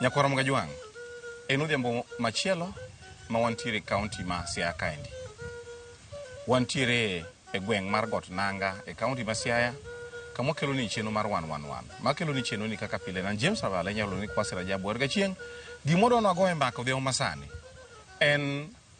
Nyakwaro Mgajwang', en odhiambo machielo ma wantiere e kaunti ma Siaya kaendi. Wantiere e gweng' mar Got Nanga e kaunti ma Siaya kama wakelo ni chenro mar wan wan wan. Ma kelo ni chenro ni kaka pile nan James Avala inyalo ni Kwasi Rajabu Warga Chieng'. Gimoro nwago e mbaka odhiambo masani en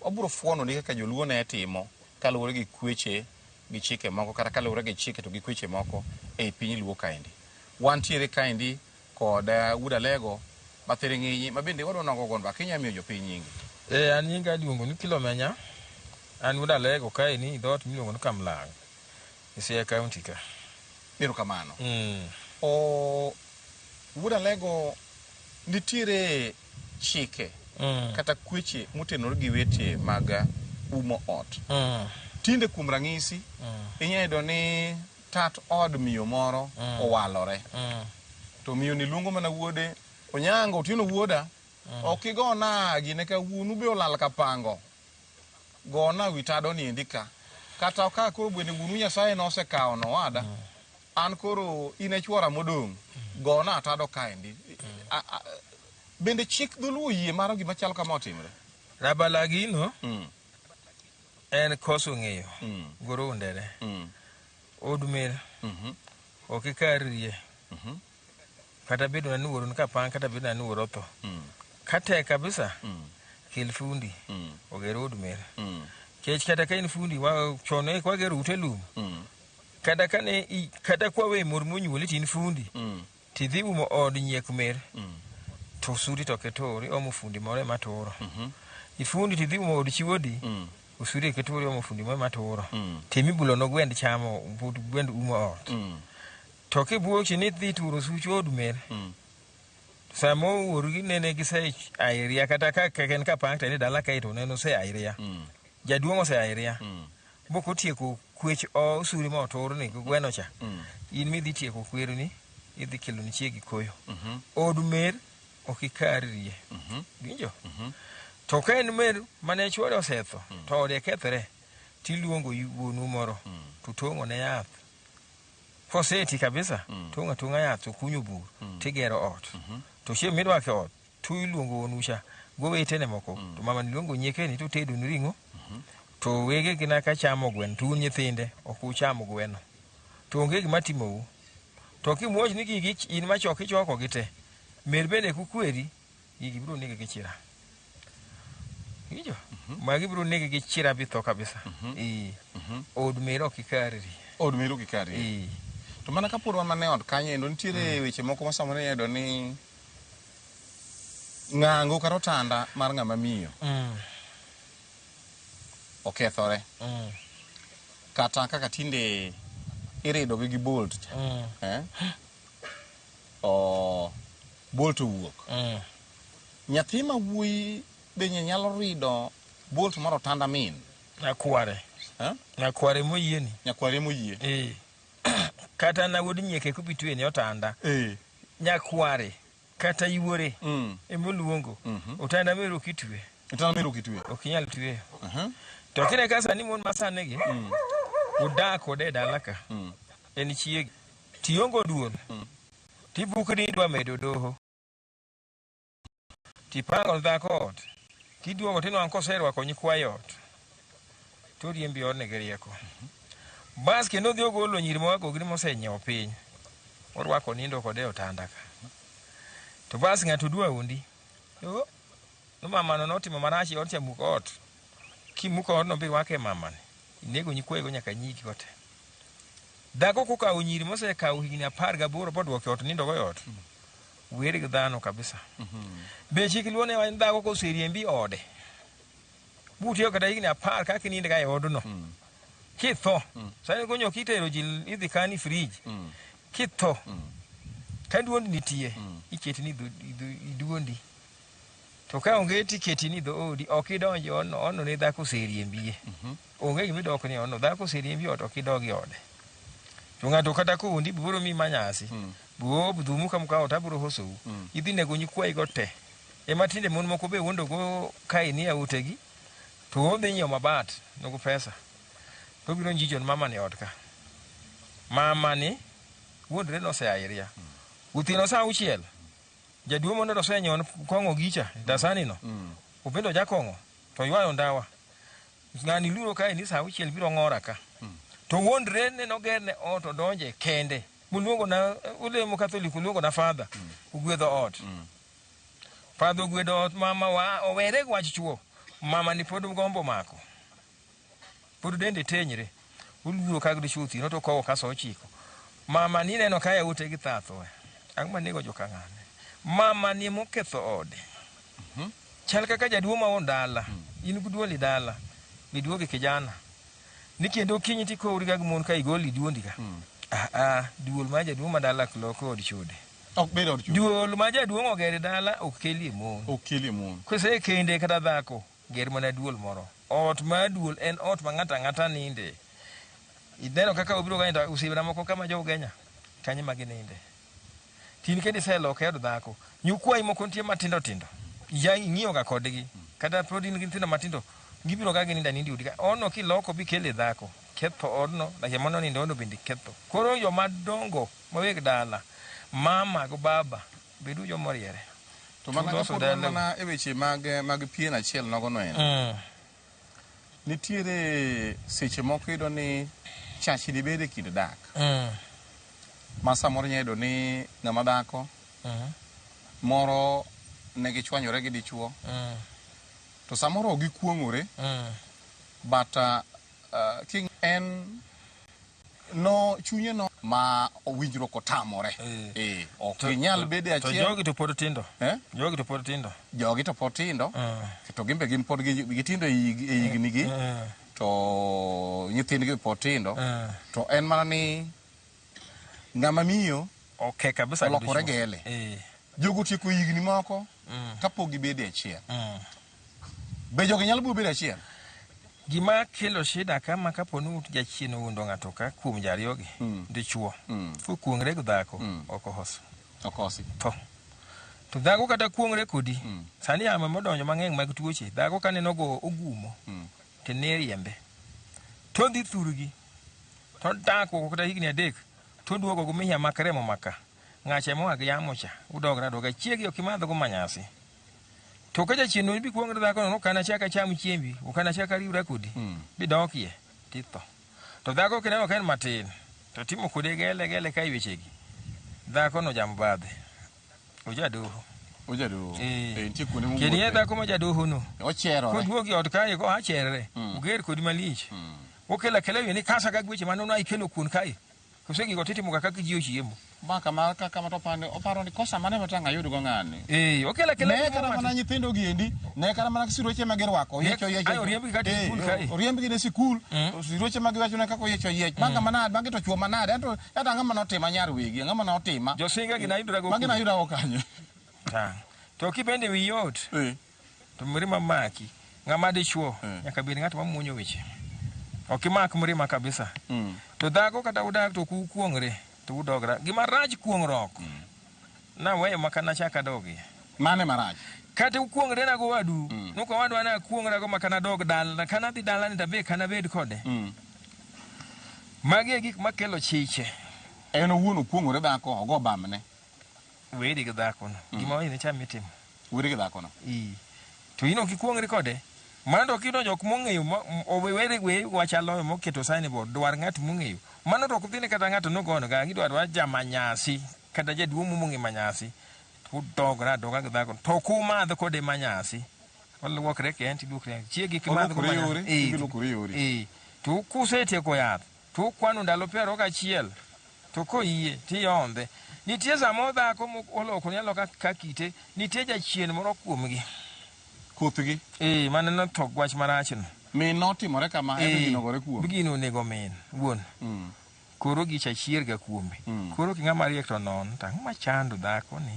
Wabiro fuono ni kaka joluo ne timo kaluwore gi kweche gi chike moko kata kaluwore gi chike to gi kweche moko ei piny luo kaendi. Wantiere kaendi kod Wuod Alego ma thiring'inyi ma bende wadwa nogo gonba kinya miyo jopiny nyingi. Ee an nyinga iluongo ni Kilomenya, an Wuod Alego kaeni dhoot miluongo ni Kamlang' e Siaya County ka. Ero kamano. Wuod Alego nitiere. chike Mm. kata kweche motenore gi weche mag eh, umo ot. Mm. Tinde kuom ranyisi, inyalo yudo ni tat od miyo moro owalore. Mm. to miyo ni luongo mana wuode onyango otieno wuoda ok igona gine ka wuonu be olal ka pango gona wi tado ni endi ka kata ka koro bende wuonu nyasaye nosekawo nowada An koro in e chwora modong', gona atado kaendi. A- a- Bende chik dholuo yie maro gima chal kama otimre? Rabalagino Mm, en koso ng'eyo mm, goro undere mm, odumel mhm, ok ikar rie mhm. kata bedo na ni wuoro nika pang kata bedo na ni wuoro otho mm. katek kabisa mm. kel fundi mm. oger od mer mm. kech kata ka in fundi wa chono e kwager ute lum mm. kata kane i, kata kwawe mor monyuoli tin fundi mm. tidhi umo od nyiek mer mm. to sudi to ketori omo fundi more matoro mm -hmm. ifundi tidhi umo od chiwodi mm. usudi ketori omo fundi more matoro mm. temi bulo no gwend chamo but gwend umo ot mm. To kibuochi ni dhi turo such od mel. Mm. Sama owuorgi nene gise airia kata ka keken ka pakta ni dala kaito neno se airia. Mm. Jaduong' ose airia. Mm. Bok otieko kwech o suri ma otur ni gweno cha. Mm. In mi dhi tieko kwero ni idhi kelo ni chiegi koyo. Mm -hmm. Od mel ok ikarie. Mm -hmm. Winjo? Mm -hmm. To ka en mel mane chwore osetho mm. to ode kethre tiluongo wuonu moro mm. to tong'o ne yath Koseti kabisa, mm. tung' atunga yath to kunyo bur, mm. tigero ot. Mm -hmm. To chieng' midwake ot, to iluongo wonucha, gowetene moko, mm. to mamani luongo nyiekeni to tedoni ring'o. Mm -hmm. To wege gina ka chamo gweno, to un nyithinde ok ucham gweno. To onge gima timou. To kimuoch ni gigi in machok ichoko gi te. Mer bende kukweri. Gigi biro nege gi chira. Ijo. Magi biro nege gi chira bi tho kabisa. Ee. Od mero ok ikarri. Od mero ok ikarri. Ee. To mana kapod wan mana e ot kanyo endo nitiere weche moko ma samoro iyudo ni ng'ango kata otanda mar ng'ama miyo Mm. okethore Mm. kata kaka tinde iridogi gi bolt cha Mm. eh? bolt owuok. Mm. Nyathi ma wuoyi benye nyalo rido bolt mar otanda min. Nyakware. Eh? Nyakware moyie ni. Nyakware moyie. Eh. Kata na wuod nyieke kubitwe ni otanda. Eh. Nyakware kata iwore. Mm. Emoluongo. Mm -hmm. Otanda mero kitwe. Otanda mero kitwe. Ok inyal twe. Uh -huh. To kine kasa ni mon masane gi. Mm. Udak kode dalaka. Mm. En chiegi. Tiongo duol. Tibukri idwa medo doho. Tipango dhako ot. Tiduogo tinwang' koserwako nyikwayo ot. Toriembi odni gi rieko. Bas kendo odhi ogolo nyiri ma wagogri mosenyiewo piny. Orwako nindo kode e otanda ka. To bas ng'ato dwa undi. Yo, ni mamano notimo marach e ot cha muk ot. Kimuk odno birwake mamani. Inego nyikwayego nyaka nyigi go te. Dhako kokawo nyiri mosekawo higni apar gaboro bodwoke ot nindogo e ot. Weri gi dhano kabisa. Be chik luo ne wacho ni dhako koseriembi ode butiyo kata higni apar kaka inindga e odno kitho sani gonyo kitero ji idhi kani frij kitho ka duond nitie iketi ni idhu- idhu- iduondi To ka onge tiketi ni dhoodi, ok idonj e odno, odno ne dhako oseriembie. Mhm. Onge gima idok ni odno, dhako oseriembi e ot, ok idog e ode. To ng'ato kata koundi, biro mi ma nyasi, Mm. biro dhumu ka muka ot, abiro hosou. Mm. Idhi nego nyikwayigo te. Ema tinde mon moko be wondogo kae ni autegi, to odhi nyiewo mabat, nogo pesa. To obiro njijo ni mama ni ot ka. Mama ni wuondre ni osea iria. Uthieno saa auchiel, Jaduo mondo to senyon kong'o gicha dasani no. Mm. Upendo jakong'o to ywayo ndawa. Ng'ani luro kae ni saa uchiel biro ng'ora ka. Mm. To wondre ne noger ne ot odonje kende. Muluongo na ulemo katholik uluongo na father. Mm. Ugwedho ot. Mm. Father ogwedho ot mama wa owere gwach chuo. Mama ni pod gombo mako. pod dende tenyre oluoro kag dichwo othino to kowo kaso ochiko mama ni neno kaya ute gi thatho ang' manego joka ng'ane mama ni moketho ode mhm. chal kaka jaduo ma on dala mm. in guduoli dala biduogi kijana ni kendo kinyi ti kowri ga gimon ka igoli duondi ga mm. ah, ah, duol ma jaduo ma dala kloko od chode duol ma jaduong' ogere dala ok kelie mon ok kelie mon kose kende kata dhako Ger mana duol moro. Ot mar duol en ot ma ng'ato ang'ata ninde. Ineno kaka obiro ka nindo, osiepna moko ka ma jo Ugenya, kanyo e ma gininde. To in kendo iseloke od dhako. Nyikwayi moko nitie matindo tindo, iya ing'iyo ga kodgi. Kata pod in gi nyithindo matindo, gibiro ga ginindo aninda e odi ka. Odno kiloko bi ikele dhako, ketho odno, lakini mane onindo odno bende iketho. Koro joma dongo ma weg dala, mama gi baba. Bedu jo moriere. To mana Tuloso kapod wan dala- mana e weche mag mag pien achiel nogo no en. Mm. Nitiere seche moko iyudo ni chachi dibed e kind dak. Mm. Ma samoro inya yudo ni ng'ama dhako Mm. moro ne gichwanyore gi dichuo Mm. to samoro ok gikuong'ore Mm. but uh, uh, king en no chunye no ma owinjruok otamore Eh. eh ok To- inyal to- bede To achiel jogi to pod tindo. Eh? Jogi to pod tindo. jogi to pod tindo Eh. to gin be gin pod gi- gitindo e hig- e hignigi Eh. to nyithindgi be pod tindo Eh. to en mana ni ng'ama miyo Okay kabisa. Olokore kabisa. gele. Eh. jogo tieko higni moko Mm. kapok gibede achiel Mm. Be jogi nyalo biro bedo achiel? Gima kelo shida ka ma kapo ni ut jachien owundo ng'ato ka kuom jariyogi Mm. dichuo Mm. kokuong're gi dhako Mm. ok ohos Okosi. tho to dhako kata kuong're kodi Mm. sani yamo modonjo mang'eny mag tuoche dhako ka neno go ogumo Mm. to ne riembe to dhi thurgi to dak kuoko kata higni adek to duogo gumiya mak remo maka ng'acha moa gi yamo cha udogre adoga chiegi ok imadhgo manyasi To ka jachiendno ibi kuong' ne dhakono, ok anachak acham chiembi, ok anachak ariwra kodi, mm. bidokie titho. To dhako kineno ka en matin, to timo kode gele gele ka iwechegi, dhakono jamo badhe, ojadoho. Ojadoho. Eh. Eh, nitie kuonde mowuothe. Kendo dhako ma jadohono. Ocherore. Koduogi ot kae, ko acherore, mm. oger kodi malich. Mm. Okela kela yoni kasa ka gweche manono aikelo kuon kae. Kose gigo titimo ga kaka ji ochiemo. Ma kama kaka ma to pande oparo ni kosa mane ma tang' ayud go ng'ani. Eh, okela kela. Ne kata mana nyithindo gi endi, ne kata mana siruoche ma girwako, oyiecho oyiecho. Ayo riemb gi kata e sikul kae. Oriemb gi ne sikul, mm. siruoche ma giwacho ne kaka oyiecho oyiech. Bang' kama mm. nade, bang' to chuo ma nade, ento ento ang'o ma notima nyar wigi, ang'o ma notima. Josinga gi nayudorago. Magi nayudorago kanyo. Ta. To kibende wi yot. Eh. to mirima maki ng'ama dichuo mm. nyaka bed ng'at mamuonyo weche ok imak mirima kabisa mm. to dhako kata udak to kukuongre to udogra gima rach kuong'ruok mm. naweyo maka nachak adogi mane marach kata ukuongre nago wadu mm. nuka wadu ana akuongrago maka nadog dalna kana adhi dalani tabe kana bed kode mm. magi e gik makelo chiche en owuon okuong'ore dhako ogo bamne weri gi dhakono mm. gima wayine cha mitimo weri gi dhakono ii to ino kikuongri kode mano to kidonjo ok mong'eyo owere we wachalo moketo sani bo dwar ng'at mong'eyo mano to ok dhine kata ng'ato nogono ga gidwar wa jamanyasi kata jaduong' mong'e manyasi to dogra adoga gi dhakono to kumadh kode manyasi olwokre kenti duokre chiegi kimadh kode manyasi to kusetieko yath To ukwano ndalo piero gachiel, to koyie, to iyondhe. Nitie sama odhako mok olokore aloka ka kite, nitie jachien moro kuomgi. Kuthgi. Ee, mane notho gi wach marachno. Min notimore kama, ento Ee, ginogore kuome. gino onego min, wuon. Mm. Koro gicha chierga kuome. Mm. Koro king'a mariek to non, to ang'o machando dhakoni?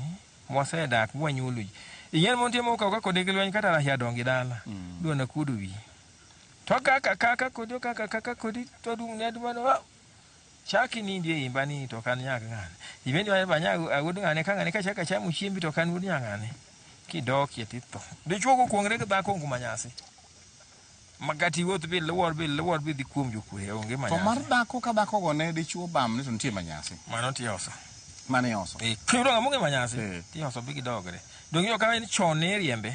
Mwasedak, mwanyuolo ji. Ing'eni mon timo okawka kode gi lweny kata rahia dongi dala. Mm. Dwa nakuodo wiyi. To kaka kaka kodi okaka kaka kodi to dum ne dum no chaki ni ndie imba ni to kan nyag ngane ibendi wa ba nyag awud ngane ka ngane ka chaka chamu chiembi to kan wud nyangane ki dok ye ti to de chuo ko ngre ba ko nguma nyasi magati wot bi lwor bi lwor bi di kuom ju kure onge manyasi to mar dako ka dako go ne de chuo bam ni to ntie manyasi mano ti oso mano yoso e kiro ngamu ngi manyasi ti oso bi gidogre dongi yo ka en chon ne riembe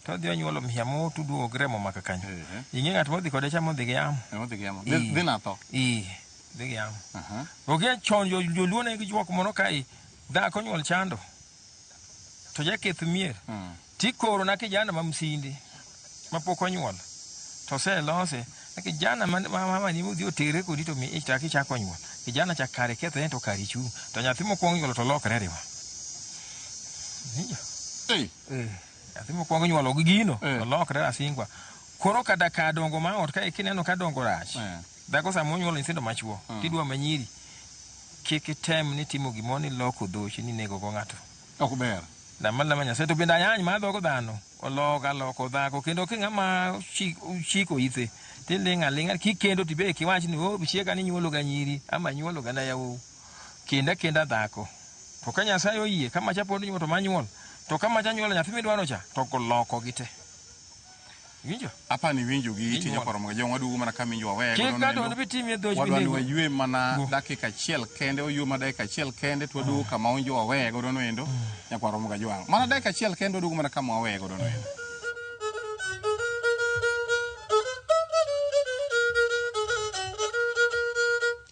to odhi onyuolo mia motuduogo gi remo maka kanyo ing'e ng'at modhi kode cha modhi gi yamo Modhi gi yamo. Dhi- Ii. dhi natho. Ii, dhi gi yamo Aha. okia chon jo- joluo ne gijuok mono ka i dhako nyuol chando to jaketh mier Mm. tikoro na kijana ma msinde mapok onyuol to oselose na kijana ma- ma- ma- mani udhi otere kodi to mi ichak ichak onyuol kijana cha kare kethre to kare chung to nyathi mokwong nyuolo to lokre riwa Winjo? Ei. nyathi mokwongo nyuolo gi gino Eh. olokre rasingwa koro ka daka dongo ma ot kae kineno ka dongo rach Eh. dhako sama onyuolo nyithindo machuo Mm. tidwa manyiri kik item ni timo gimoro ni loko dhochi ni nego go ng'ato ok ber lama lama nyasaye to bende ayany ma dhogo dhano oloka loko dhako kendo ki ng'ama chi- chiko ithe tiling' aling'a kikendo tibe kiwach ni o chiega ni nyuolo ga nyiri ama nyuolo ga na yawou kendo akenda dhako. To ka Nyasaye oyie, ka macha pod nyuol to manyuol. To ka macha nyuol nyathi midwaro cha, to loko gi te. Winjo? Apa ni winjo gi iti nyaparo mga jongwa dugu mana kami njwa wego. Kik gato wani biti mi dhoji bini. Wadwani wajwe mana dakika chiel kende, wajwe mana dakika chiel kende, tuwa dugu kama unjwa wego dono endo, nyaparo mga jwang. Mana dakika chiel kende, dugu mana kama wego dono endo.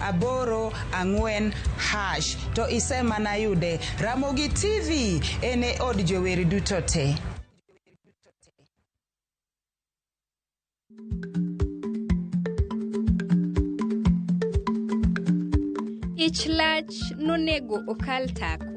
aboro ang'wen hash to isemana yude Ramogi TV en e od jower duto te. Ich lach nonego okal tako.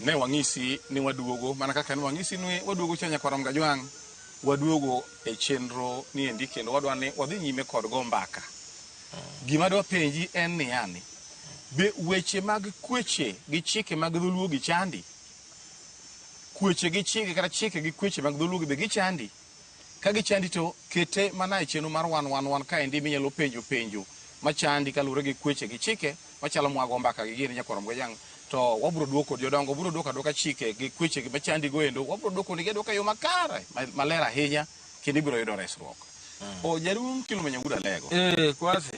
Ne wang'isi ni waduogo mana kaka ne wang'isi ni waduogo cha Nyakwar Mgajwang'. Waduogo e chenro ni endi kendo wadwa ni wadhi nyime kod go mbaka. Gima adwa penji en ni yani, be weche mag kweche gi chike mag dholuo gi chandi? Kweche gi chike kata chike gi kweche mag dholuo be gichandi? Ka gichandi to kete mana e chenro mar wan wan wan kaendi minyalo penjo penjo machandi kaluwore gi kweche gi chike machalo mwago mbaka gi gini nyakwarom gojang' to wabro duoko jodongo bro duoko aduoka chike gi kweche gi machandi go endo wabro duoko nigi aduoka yo makare ma- maler ahinya kendo ibro yudo resruok. O jaduong' mkilo mwenye guda lego. Eh, kwasi.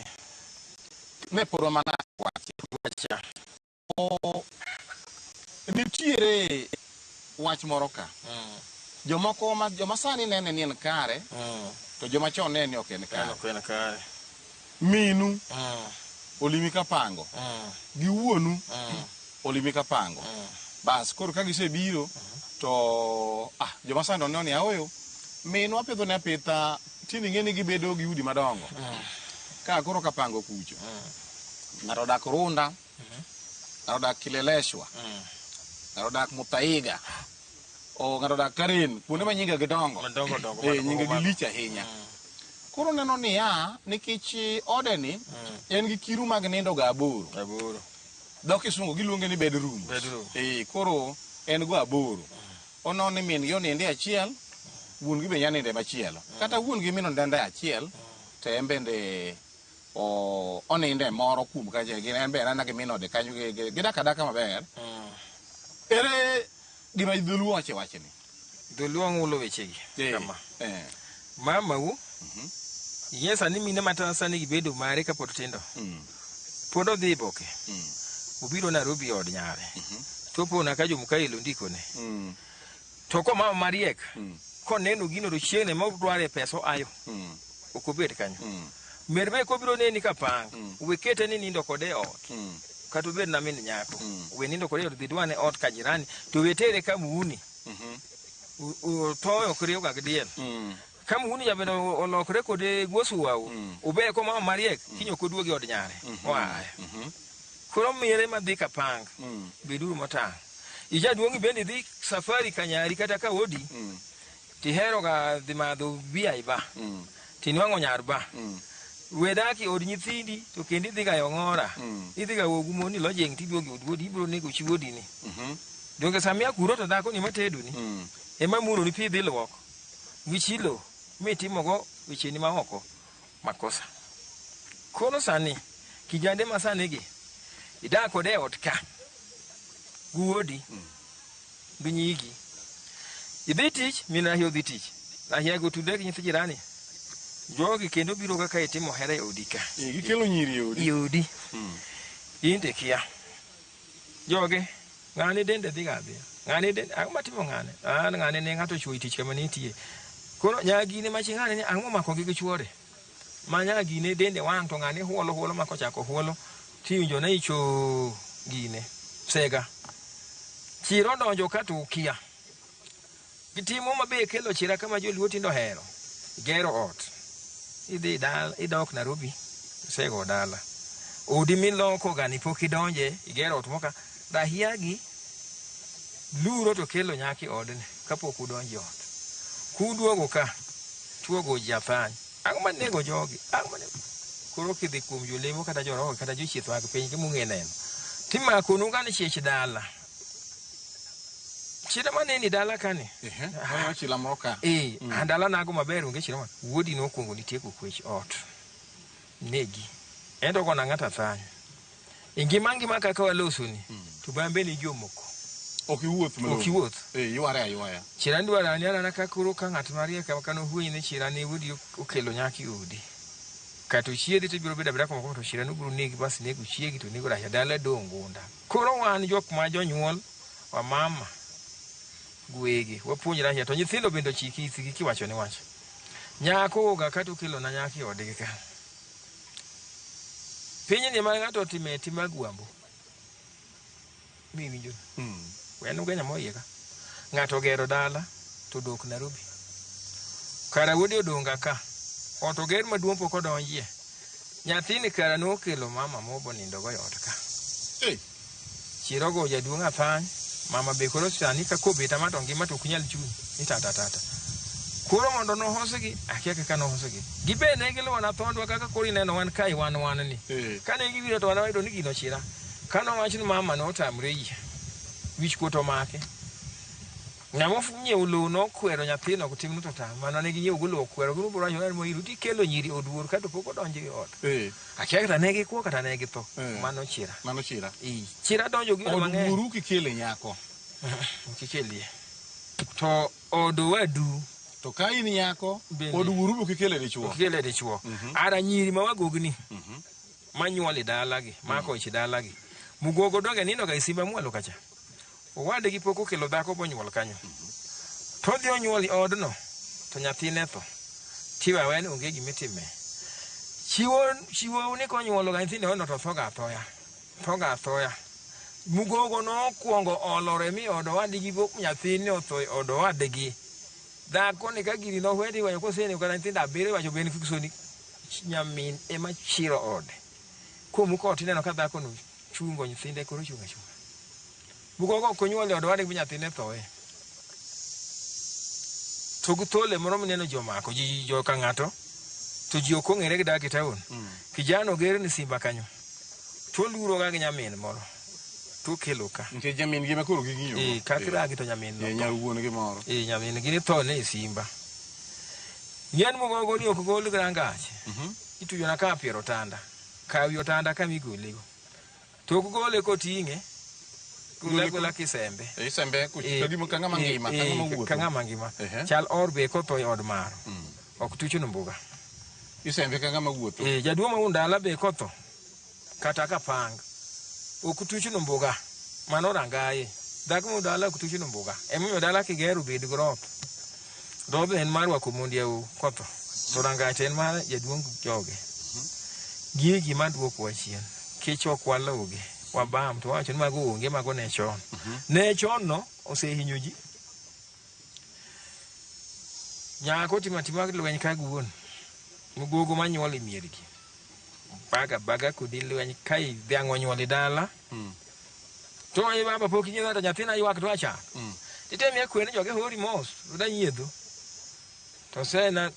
Ne podwa mana wache. Wacha. nitiere wach moro ka jomoko ma joma sani nene ni en kare to joma chon nene ni ok en kare ok en kare minu olimi ka pango gi wuonu olimi ka pango bas koro ka gisebiro to ah, joma sani oneno ni aoyo minwa pidho ne apitha tini ng'e ni gibedo gi udi madongo ka koro kapango kucho ng'ato odak runda ng'ato odak Kileleshwa, ng'ato odak Muthaiga, o ng'ato odak Karen, kuonde ma nyinga gidongo. Madongo dongo Eh, man nyinga kuom gilich ahinya. Koro neno niya, nikech eh, odeni en gi kiru mag nindo ga aboro. Aboro. Dho kisungu giluonge ni bedroom. Bedroom. Eh, koro en go aboro. Ono ni min gi oninde achiel, wuon gi be nya ninde machielo. Kata wuon gi min oninde achiel, to en bende onindo e moro kuom kacha en be anana gi min ode kanyo gidak adaka maber mm. ere gima dholuo wache wache ni dholuo ng'ulo wechegi eh, kama eh. mamau mhm. ye sani mine mata sani gibedo mare kapod tindo mm. pod odhi boke mm. obiro narobi od nyare mhm. topona ka jomukaelo ndikone To ko mama mariek koneno gino to chieng' ne ma odware pesa oayo ok obed kanyo. Mer be kobiro neni ka pang, we kete ni nindo kode e ot. Kata obed na min nyako, we nindo kode e ot dhi dwane ot ka jirani to we tere ka muuni. U- u- Thoyo ok riwga gi diel. Ka muhuni jabedo olokre kode gwosuwau, ubeye koma o mariek, kiny ok oduogi od nyare. Oaye. Koro mire madhi kapang, beduru motang'. Ijaduong' bende idhi safari ka nyari kata ka odi, tiheroga dhi madho bia i ba, tinwang'o nyar ba. We dak i od nyithindi, to kendo idhiga e ong'ora. Idhiga ogu mon ni lojing' tiduogi od wuodi, ibiro nego chi wuodini. Donge samia kuro to dhakoni matedoni, ema muroni pi idhi luok? gi chilo mitimogo wecheni ma oko makosa. Koro sani, kijande ma sani gi, idak kode e ot ka, gi wuodi, gi nyigi. Idhi tich, min Rahia odhi tich. Rahia go tudre gi nyithi jirani. Jogi kendo biro kaka itimo hera e odi ka. Eh, Gikelo nyiri e odi. E odi. Mm. In to ikia. Joge, ng'ane dende dhiga adhiya. Ng'ane dende, ang'o matimo ng'ane? An ng'ane ne ng'ato ochwoyi tich kama nitie. Koro nyagine machi ng'ane ni ang'o momakogi gi chwore? Ma nyagine dende wang' to ng'ane huolo huolo ma kochako huolo tiwinjo na icho gine. Sega. Chiro donjo ka to ukia. Gitimo ma be kelo chira kama joluo tindo hero. Gero ot. Idhi dala, idok Nairobi, isego dala. Odi miloko gani pok idonje, igero ot moka. Dahiagi luro to kelo nyaki odni kapok udonje ot. Kuduogo ka, chuogo ji athany. Ang'o ma nego jogi? Ang'o ma nego? Koro kidhi kuom jolemo kata joroho kata jochieth mag piny mung'e neno. Timakonu gani chich dala. chira ma neni dala kani chila moro ka eh mm. andala nago maber onge chira ma wuodi nokuongo nitieko kwech ot negi endo kona ng'ata thany e ngima ngima kaka walosoni mm. to bambe ni jomoko ok iwuoth ok iwuoth eh yware aywaya chira ndwara ni ana ka koro ka ng'at mariek ka no huyi ni chira ni wuodi okelo nyaki udi kato chiedi to biro bedo abira kuma to chira no biro negi bas nego chiegi to nego raja dala dongunda Koro wan jok ma jonyuol wamama gwegi wapuonjre ahinya to nyithindo bende ochiki ithigi kiwacho ni wach nyako oga kata okelo na nyako e odgi ka piny ni ma ng'ato otime tim agwambo miwinjo mm. wen ugenya moyie ka ng'ato ogero dala to odok Nairobi kara wuode odonga ka ot oger maduong' pok odonjie Nyathini kara nokelo mama mobo nindo go yot ka. Hey. Chiro go jaduong' athany. Mama be koro sani ka kobeta ma to ngima to ok nyal chung' ni tata tata. Koro mondo nohosgi, akia kaka nohosgi. Gibe ne giluwo na thondwa kaka koro ineno wan kai wan wan ni. Hey. Kane giwiro to wan wayudo ni gino chira. Kano wach ni mama notamre yie. Wich kuot omake. Ng'ama onyiewo lowo nokwero nyathino otimno to ta. Mano ne ginyiewo go lowo okwero gino bro wacho mo iru tikelo nyiri oduor kato pok odonjo e ot. Eh. Akia kata ne gikwo kata ne githo. Eh. Mano chira. Mano chira. Eh. Chira donjo gi mang'eny. Oduoru kikele nyako. Kikelie. To odo wadu. To ka in nyako oduoru bu kikele dichuo. Kikele dichuo. Mhm. Ara nyiri ma wagogni. Mhm. Manyuol e dalagi, mako mhm. ich e dalagi. Mugogo donge nino ga isimba e mwalo kacha. Owadgi pok okelo dhako bonyuol kanyo. To odhi onyuol e odno, to nyathine tho. Tiwe aweya ni onge gima itime. Chiwo, chiwo ni konyuologa nyithindo e odno to thoga athoya. Thoga athoya. Mugogo nokwongo olore mi od owadgi bo- nyathine otho e od owadgi. Dhako ni ka gini nohwedi wayo kosenego kata nyithindo abiriyo wacho ben kik soni nyamin ema chiro ode. Komuko ot ineno ka dhakono chungo nyithinde koro chunga chunga bugo go konyuol e odwade gi nyathine thoe to gi thole moro mineno jomako ji jo ka ng'ato to ji ok ong'ere gi dak e taon mm. kijana ogere ni simba kanyo to luro ga gi nyamin moro to kelo ka ntie nyamin gi makoro gi ng'iyo eh kak ra gi to nyamin no nyar wuon gi moro eh nyamin gi ni to ne simba nyen mo go ni ok gol grangach mhm. ituyo na ka piero tanda Kawi otanda kama igolego. To ok gole koting'e, gole agola kisembe. E isembe kucho, Eh, to gimo ka ng'ama eh, ngima, ka eh, ng'ama wuotho. Ka ng'ama ngima. Ehe. Chal or be kotho e od maro. Mm. Ok tuchno mbuga. Isembe ka ng'ama wuotho. Eh, jaduong' ma undala be kotho. Kata ka pang. Ok tuchno mbuga. Mano rangaye. Dhako ma undala ok tuchno mbuga. Emomiyo dala kigero bed grop. Dhoodno en mar rwako mond yau kotho, to rangach en mar jaduong' joge. Gigi ma dwoko wa chien, kech ok waluwgi, wabam to wawacho ni mago onge, mago ne chon. Ne chon no osehinyo ji. Nyako otimo atima lweny ka guon, gogo manyuol e miergi. Baga baga kodi lweny ka i- dhiang' onyuol e dala, Mm. To e baba pok inyiedho to nyathina ywak to acha. Mm. Titemi akwer ni joge hori mos, da nyiedho. To sena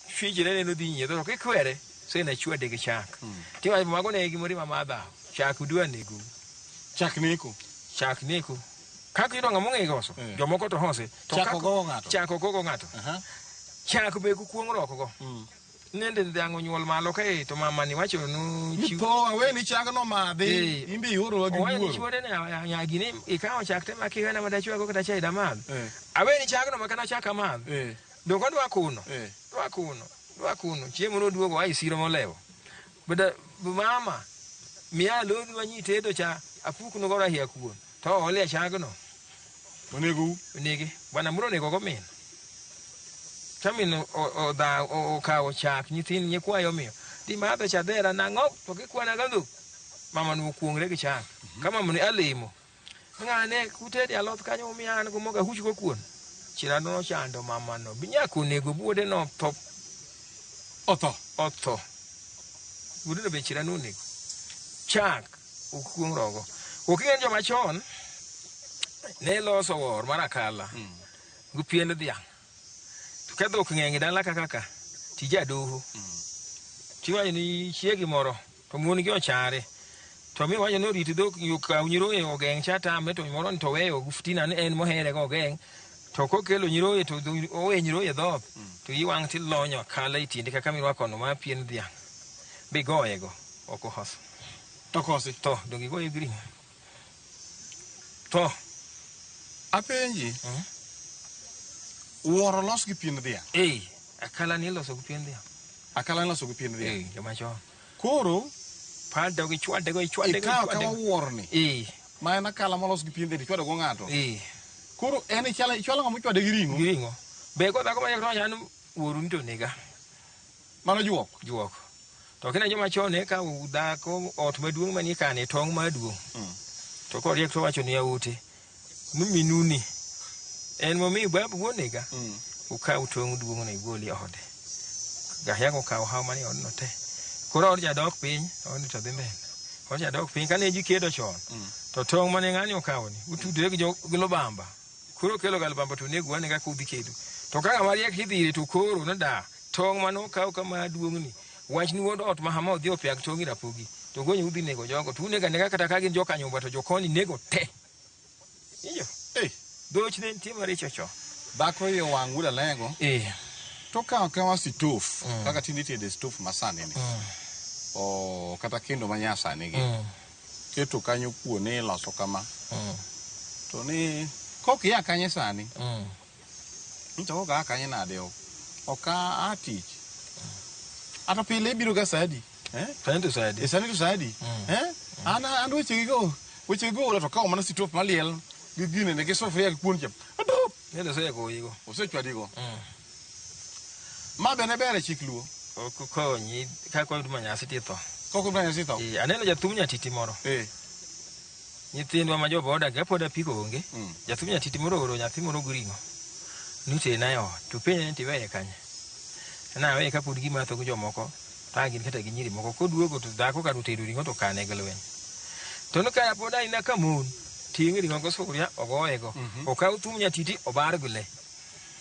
fijire ne no dhi nyiedho to kikwere sena chwade gi chak. Mm. Tiwa mago ne gi mori mamadha, chak udwa nego. Chak neko. Chak neko. Kaka idonga mong'e goso, yeah. jomoko to hose. To chako gogo ng'ato. Chako gogo ng'ato. Uh -huh. Chako be kukuong' roko go. Mm. nende dhiang' onyuol malo ka e to mamani wacho nu chiw- Itho awe ni chag no madhi. Eh. Imbe ioro gi owacho ni wuoro. chuode ni "Aya- nyagi ni ikawo chak te maki wena madachwago kata chai damadh Eh. awe ni chagno ma kana chak amadh Eh. donge odwa kuno Eh. dwa kuno dwa kuno chiemo noduogo ae siro molewo Bada mama miya lodhi wanyi tedo cha apuk no gora hia kuon to ole chagno onego u onege bwana muro onego go min chamin odha okawo chak nyithin nyikwayo miyo ti madho cha dhera nang'o to gikwana ga dhok mama no okuongre gi chak ka mama ni alimo ng'ane kutede aloth kanyo omiyo an go moga huch go kuon chirano nochando mamano binyako onego buode no tho otho otho buode no be chirano onego chak okuong rogo oking'en joma chon ne loso wor mar akala mm. gi pien dhiang' to ka dhok ng'eny dala kaka ka tija doho mm. tiwacho ni chiegi moro To mon gi ochare. To mi wacho ni orit dhok kaw nyiroye ogeng' cha tame to moro to weyo oftina ni en mohere go ogeng' to kokelo nyiroye to owe nyiroye dhoth to iwang' ti lonyo kala e tiende kaka mirwako no ma pien dhiang' bigoye go ok ohoso. To kosi. To dongi goye green. To apenji, wuoro los gi piend dhiang'. Ei, akala ni iloso gi piend dhiang'. Akala ni iloso gi piend dhiang'. Ei, joma chon. Koro pado gi chwade go ichwade go ikawo kawa wuorni. Ei. Ma en akala molos gi piend dhiang' ichwado go ng'ato. Ei. Koro en ichwalo ng'ama ochwade gi ring'o. Gi ring'o. Be kodhako ma nyaka to an wuoru ni to nega. Mano juok. Juok. To kina joma chon ne ka dhako ot maduong' manie kane tong' maduong'. Mm. To koriek to wacho ni aute. Minuni. En momi babu wuonega. Mm. Ukaw tong' duong' na igol e ode. Gahia ko kaw haw manie odno te. Koro od jadok piny, odni to dhi mbele. Od jadok piny kane ji kedo chon. Mm. To tong' mane ng'ani okawo ni, utudre gi jo gi lubamba. Koro okelo galbamba to onego wane kaka udhi kedo. To ka ng'ama riek idhi ire to koro noda tong' mane okaw kama duong'ni. Wachni wuod ot ma hama odhi opiag tong' ir Apogi. To gonye udhi nego jogo. To unego anega kata ka gin joka nyumba to jokoni nego te. Iyo. Ei. Dhoch ne nitie maricho cho. Dhako iye wang' wuod alego. Iya. To ka okawa situf kaka tinde itede situf masani ni. O kata kendo ma nyasani gi. keto kanyo kuo ni iloso kama Mm. to ni kok ia kanye sani Mm. nito kok aa kanye nade ok ok a- aa tich ato pile ibiro ga saa adi eh? Sani to saa adi? e sani to saa adi Mm. eh? an an wechegigo wechegigo ola to kawo mana sitop maliel gi gine ne gi sufuria gi kuon cha Adup! Nende oseyako oyigo. osechwadigo Mm. Ma bende ber e chik luo. Ok okonyi ka kwa huduma nyasi titho. Ka huduma nyasi titho. Eh, aneno jathum nyatiti moro. Eh. Nyithindwa ma joboda ga pod apiko onge. Mm. Jathum nyatiti moro oro nyathi moro guringo. Nute na yo. To penye ni tiweye kanye. Na weye kapod gima tho jomoko. Ta gin kata gi nyiri moko koduogo to dhako ka rute ringo to kane galwen. To no kaya pod aina kamon. Tingi ringo go suria ogoye go. Mm -hmm. Okaw thum nyatiti obar gule.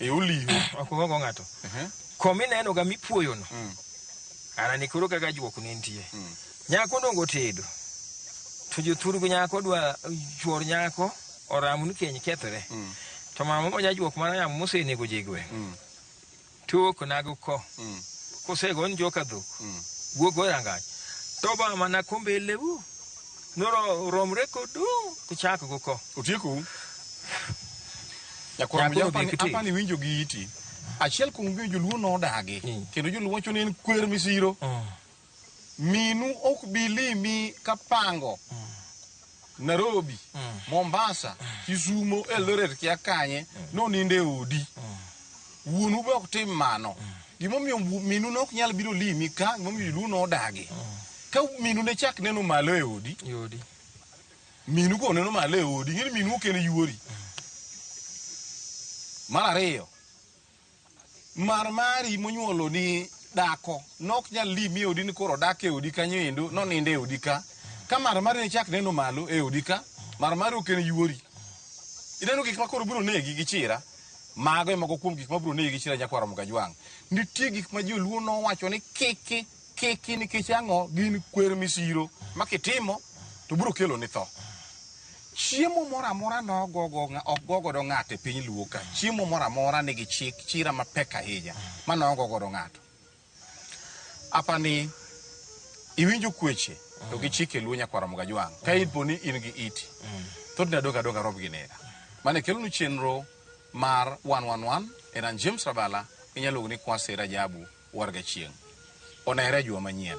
e oliho ok ongo ng'ato kom ineno ga mipuoyo no Mm. ana ni koro kaka juok ne nitie Mm. nyako dongo tedo to jothurgo nyako dwa chuor nyako oramu ni keny kethre Mm. to mama ma jajuok mana yamo mosenego jigwe Mm. tuok nago ko Mm. kosego ni joka dhok Mm. wuok go rangach to ba mana kombe lewu Noro romre kodu kuchak go ko. Otieku. Nyakwar Nyakwar Mujapa ni odhi kiti. apa ni winjo gi iti. Achiel kuom gima joluo nodagi Mm. kendo joluo wacho ni en kwer misiro. Minu ok bi limi ka pango. Nairobi, Mombasa, Kisumo, Eldoret kia kanye noninde odi. Wuonu be ok tim mano. Gimomiyo minu ne ok nyal biro limi ka, gimomiyo joluo ne odagi. Ka minu ne chak neno malo e odi, Yodi. minu go neno malo e odi, ing'e ni minu ok en yuori. Mar ariyo, mar mari monyuolo ni dako nok nyal limi e odi ni koro dak e odi kanyo endo, nonindo e odi ka. Ka mar mari ne chak neno malo e odi ka, mar mari ok en yuori. Ineno gik ma koro biro negi gi chira. Mago e moko kuom gik ma biro negi gi chira nyakwaro Mgajwang'. Nitie gik ma joluo nowacho ni kiki kiki nikech ang'o gin kwer misiro ma kitimo to biro kelo ni tho. Chiemo moro amora nogogo ng'a- ok go godo ng'ato e piny luo ka. Chiemo moro amora nigi chik chira mapek ahinya ma nogo godo ng'ato. apani iwinjo kweche to gichike luo nyakwara mugajwang ka ipo ni in gi iti thothne adog adog arob gi nera mane kelonu chenro mar 111 en an james rabala inyalo luongo ni kwase rajabu warga chieng' onere e juma manyien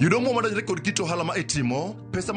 Yudo mwandu madonjore kod kit ohala ma itimo, pesa ma